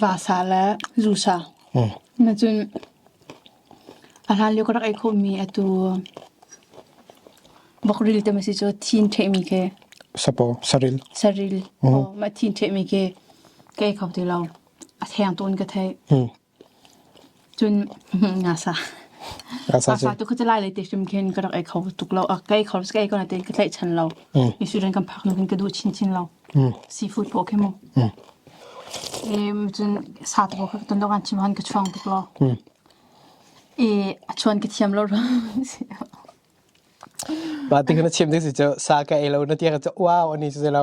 Vasa le zusa na cun a hlan lio ka rak ei khawhmi atu bokril te maw si cu thin ṭhehmi khi Sapaw saril saril mah thin ṭhehmi khi ka ei kho ti lo a theng tawn ka theih. Cun ngasa. Ngasa tu kha cu lai lei te hrim khin ka rak ei kho tuk lo. Ka ei kho ka ei ko na tein ka tlaihchan lo. Isurin kan phak nu khin ka duh chinchin lo. Seafood paw khi mu. Cun sa tu paw kha ka ton dawgan chim han ka chuang tuk lo. A chuan ka thiam lo rang si. Ba ti khan a chim ding si cu sa ka ei lo na ti kha cu wow ani si lo.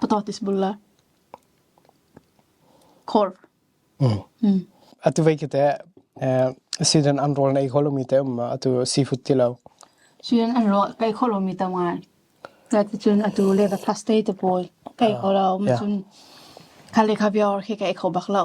Potatis bul le khor. Atu vei kite season an rol na ei kholomi te um atu seafood ti lo. Season an rol kai kholomi te ngai. Atu cun atu leva plus te te pawl kai kholo. Cun kale kabiar khi kai khobak lo.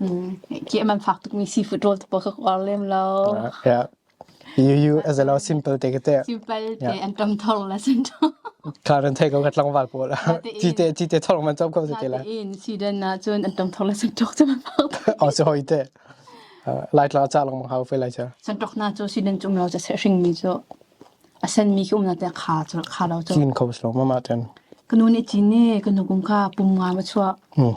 Kiam an fak tukmi seafood rawl tu pawl ka uar lem lo. Yeah. You you as a lo simple te te. Simple te an tam thor la sin to. Karen thei ko kat langwal po la. Ti te ti te thor man chop ko se te la. In season na chun an tam thor la sin to chum fak. Oh so hoi te. Lai tla cha lang hau fe lai cha. San tok na cho season chum lo cha se hring mi cho. Asen mi kum na te kha cho kha lo cho. Kin ko slow mama ten. Kanu ni chi ni kanu kum kha pum nga ma chua. Hmm.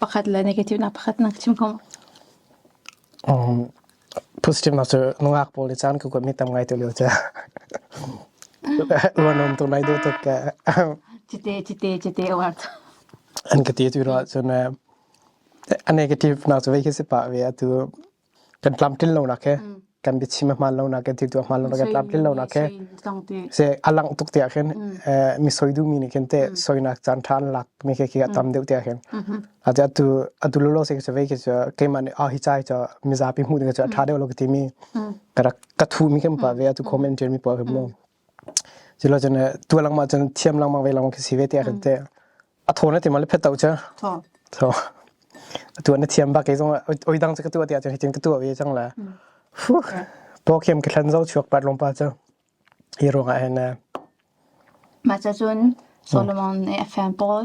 Pakhat le negative nak pakhat na chim hmu. Positive nak cu nungak pawl i caan ka kuat mi tam ngai tu lio ca. Luanom tu nai duh tuk ka. Cite cite cite awat. An ka ti tu ro cun a negative nak cu vei khi si pa ve atu kan tlamtlin lonak he kan biachim a hmaan lonak kan timtu a hmaan lonak kan tlamtlin lonak he se a langh tuk te ah khin mi soi du mi nih khin te soinak caan ṭha an lak mi ke khi a tam deuh te ah khin a ti atu atu lo lo se se vei ke chu keimah nih a hi chai chu mizapi hmu ding chu a ṭha deuh lo ka ti mi ka rak ka thu mi kan pa ve atu comment ṭian mi pa kim lo Culo cun tua lengmang cun thiam lengmang ve lengmang khi si ve tiah kan ti. A thaw na ti ma le phet to cu? Thaw. Thaw. A tua na thiam bak kei zong oi dang cu ka tua tiah cun hitin ka tua ve cang la. Fuh. Po khiam ka thlan zo chuak pat lom pa cu. Hi ruangah hin. Mah cun Solomon FM Paul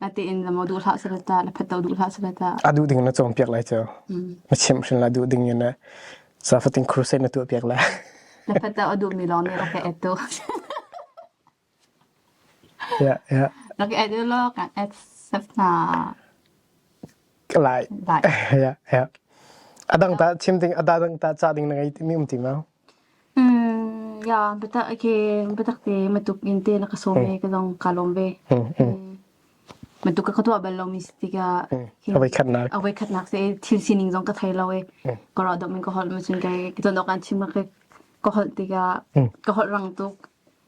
Natein lamaw duh hlah sala ta la phato duh hlah sala ta. A duh ding na chom piak lai cho. Na chim hrin la duh ding ne na safating crusade na tu piak la. Na phato a duh mi long ne okay eto. Yeah, yeah. Nak add lo kan add safna. Lai. Lai. Yeah, yeah. Adang ta chim ding ada dang ta cha ding na ngai mi um ti ma. Ya, biatak ke biatak te matuk in te na ka sawm ve ka zong kaa lawm ve. Matuk ka ka tuah bal lomi si tikah Avoi khatnak se thil sining zong ka thei lo i ka rawh dok min ka holh macun ka zon awk an chim ka ka holh tikah ka holh rang tuk.